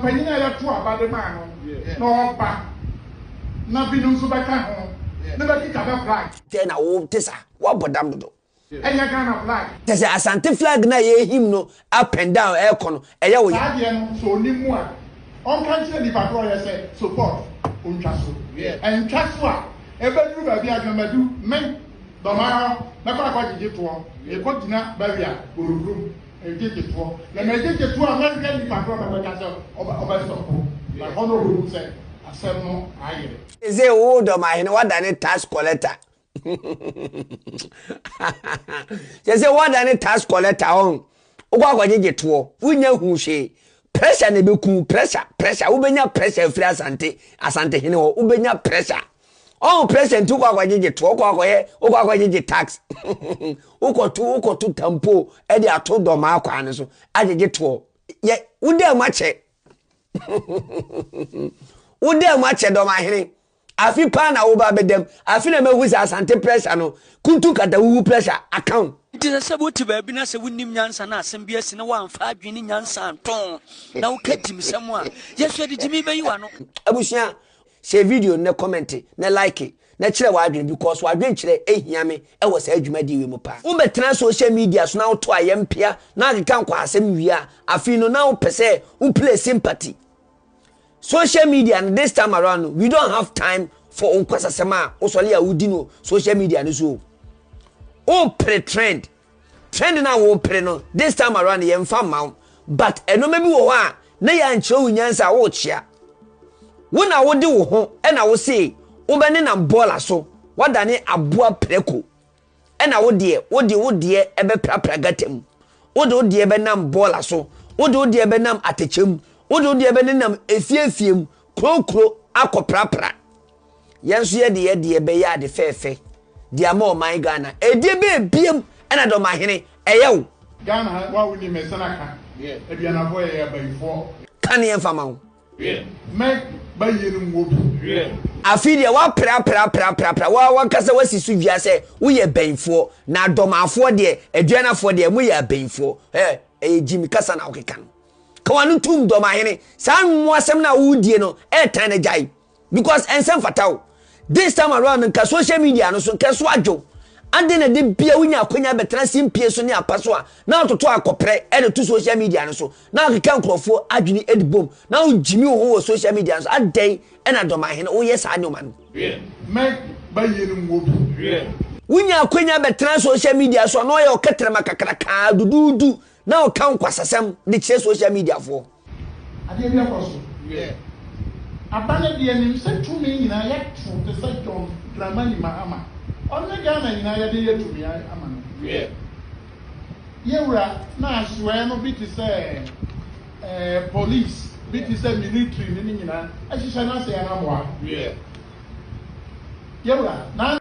panyin a yɛtoo aba de maa no na ɔreba, na binom nso bɛka ho na bɛkita bɛ flag. Dɛn na wo te sa? Woabɔ dam dodo. Ɛnyɛ Ghana flag. Kyɛ sɛ Asante flag no a yɛrehim no up and down ɛrekɔ no, ɛyɛ wo ya. Saa deɛ no, sɛ ɔnim mu a, ɔnka nkyerɛ nipa korɔ yɛ sɛ support ɔntwa so. Ɛntwa so a, ɛbɛduru baabi a Dwamadu, me, Dɔmara, mɛkɔ akɔgyegye toɔ, mekɔgyina barrier, Boroboro, mu. Nketewa, na na ɛyɛ nketewa a mɛhwɛ nipa korɔ na mɛka sɛ ɔbɛ ɔbɛ sɔpo, na hɔ na ɔbɛhu sɛ asɛm no ayɛ. Sesei wo dɔmahene woadane tax collector sesei woadane tax collector ɔn wokɔ akɔgyegye toɔ wonnya hu hwee pressure na ɛbɛku pressure pressure wobɛnya pressure afiri asante asantehene hɔ wobɛnya pressure. Ɔho president wokɔ akɔgyegye to wokɔ akɔyɛ wokɔ akɔgyegye tax wokɔto wokɔto tampo ɛde ato dɔmaa kwan no so agyegye toɔ yɛ wodaa mu akyɛ wodaa mu akyɛ dɔmahene afi paa na woba bɛdam afi na mahu sɛ asante pressure no kuntu kata wuwu pressure account nti sɛ sɛ wote baabi na sɛ wonim nyansa na asɛm bi asi na woamfa adwene ne nyansa nto na woka gyimsɛm a yɛhwɛ de gyimi bɛyi w'ano abusua Share video no na kɔmɛnte na like na kyerɛ w'adwene because w'adwenkyerɛ hia me wɔ saa dwumadie wei mu paa. Wo bɛtena social media so na wo to ayɛ mpea na akeka nkwahasɛm wie a afei no na wo pɛ sɛ wo play sympathy. Social media no this time around no we don't have time for nkwasasɛm a wo sɔle a wo di no social media no so o. Wo pere trend. Trend no a worepere no this time around yɛmfa mma wo but nnoɔma bi wɔ hɔ a na yɛankyerɛ wo nyansa a worekyea. Wo na wode wo ho na wosee wobɛnenam bɔɔla so, woadane aboa prako ɛna wo deɛ wode wo deɛ bɛprapra gata mu, wode wo deɛ bɛnam bɔɔla so, wode wo deɛ bɛnam atɛkyɛ mu, wode wo deɛ bɛnenam efie efie mu, kuro kuro akɔprapra. Yɛn nso yɛde yɛ deɛ bɛyɛ ade fɛɛfɛ de ama ɔman Ghana. Ɛdeɛ bɛ ebiem ɛna dɔmahene ɛyɛ wo. Ghana ha wa wo ni mɛ sɛn aka aduanafɔ yɛ yɛ abayifɔ. Ka neɛ nfa ma wo. Mɛ ba yie no mu wɔ bi. Afei deɛ wa pra pra pra pra pra wa wa kasa wa si so dua sɛ wo yɛ bɛyifoɔ na dɔmafoɔ deɛ aduanafoɔ deɛ mo yɛ abayifoɔ ɛ ɛyɛ gyimi kasa na wo keka no. Ka wa no tum dɔmahene saa nmoasɛm na wo die no ɛtan na gyae. because ɛnsɛ mfata wo this time around nka social media no so nka ɛso adwo ade na de bia wonya akonya bɛtena simpie so ne apa so a na atoto akɔprɛ ɛde to social media no so na akeka nkurɔfoɔ adwene ɛde bom na wogyimi wo ho wɔ social media no so adɛn ɛna dɔmahene woyɛ saa nneɛma no wonya akonya bɛtena social media so a na ɔyɛ ɔkɛtrɛma kakrakaa duduudu Na ɔka nkwasasɛm de kyerɛ social media foɔ. Adeɛ bi akɔ so. Wiɛ. Aba no deɛ nim sɛ tumi nyinaa yɛato te sɛ John Dramani Mahama ɔne Ghana nyinaa yɛde yɛ tumi ama no. Wiɛ. Yɛwura na asoɛɛ no bi te sɛ ɛɛ police bi te sɛ military no ne nyinaa ɛhyehyɛ no ase yɛn amoa. Wiɛ. Yɛwura na.